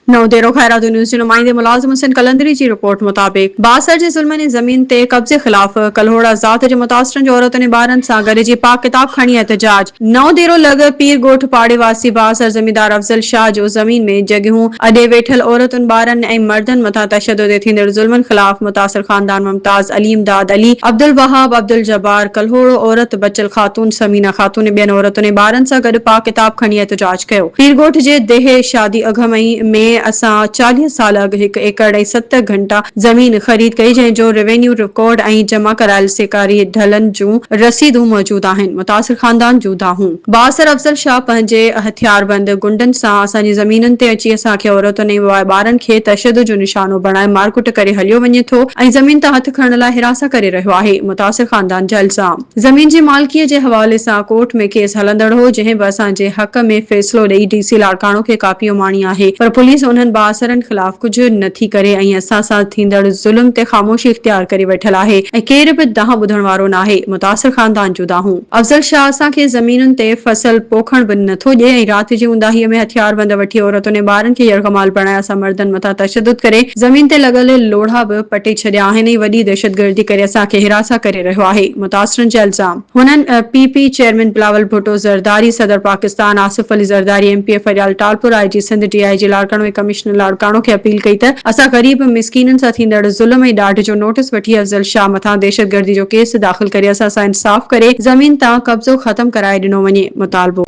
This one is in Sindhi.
نئون ديرو، خيراتو نيوز جي نمائندي ملازم حسين قلندري جي رپورٽ مطابق بااثر جي ظلمن ۽ زمين تي قبضي خلاف ڪلهوڙا ذات جي متاثرن جي عورتن ۽ ٻارن سان گڏجي پاڪ ڪتاب کڻي احتجاج نئون ديرو لڳ پير ڳوٺ پاڙي واسي بااثر زميندار افضل شاهه جو زمين ۾ جڳهيون اڏي ويٺل عورتن ٻارن ۽ مردن مٿان تشدد ۽ ٿيندڙ ظلمن خلاف متاثر خاندان ممتاز علي امداد علي عبدالوهاب عبدالجبار ڪلهوڙو عورت بچل خاتون ثمينه خاتون ۽ ٻين عورتن ۽ ٻارن سان گڏ پاڪ ڪتاب کڻي احتجاج ڪيو. پير ڳوٺ جي ديهه شادي اگهه مهين ۾ اسان چاليهه سال اڳ هڪ ايڪڙ ۽ ست گهنٽا زمين خريد ڪئي جنهن جو روينيو رڪارڊ ۽ جمع ڪرايل سيڪاري ڍلن جون رسيدون موجود آهن متاثر خاندان جون دانهون بااثر افضل شاهه پنهنجي هٿياربند گنڊن سان اسان جي زمينن تي اچي اسان کي عورتن ۽ وواء ٻارن کي تشدد جو نشانو بڻائي مارڪٽ ڪري هليو وڃي ٿو ۽ زمين تان هٿ کڻڻ لاء هراسان ڪري رهيو آهي متاثر خاندان جا الزام زمين جي مالڪيء جي حوالي سان ڪورٽ ۾ ڪيس هلندڙ هو، جنهن به اسان جي حق ۾ فيصلو ڏئي ڊي سي لاڙڪاڻو کي ڪاپي اماڻي آهي، پر پوليس انهن بااثرن خلاف ڪجهه نه ٿي ڪري ۽ اسان سان ٿيندڙ ظلم تي خاموشي اختيار ڪري ويٺل آهي ۽ ڪير به دانهن ٻڌڻ وارو ناهي، متاثر خاندان جون دانهون. افضل شاهه اسان کي زمينن تي فصل پوکڻ به نه ٿو ڏئي ۽ رات جي اونداهيء ۾ هٿياربند وٺي عورتن ۽ ٻارن کي يرغمال بڻائي اسان مردن مٿان تشدد ڪري زمين تي لڳل لوڙها به پٽي ڇڏيا آهن ۽ وڏي دهشتگردي ڪري اسان کي هراسان ڪري رهيو آهي، متاثرن جا الزام. هنن P P chairman Bilawal Bhutto Zardari, صدر Pakistan Asif Ali Zardari, M P A Faryal Talpur, I G Sindh, D I G Larkana ۽ commissioner Larkana کي اپيل ڪئي ته اسان غريب مسڪينن سان ٿيندڙ ظلم ۽ ڏاڍ جو نوٽيس وٺي افضل شاهه مٿان دهشتگردي جو ڪيس داخل ڪري اسان سان انصاف ڪري زمين تان قبضو ختم ڪرائي ڏنو وڃي، مطالبو.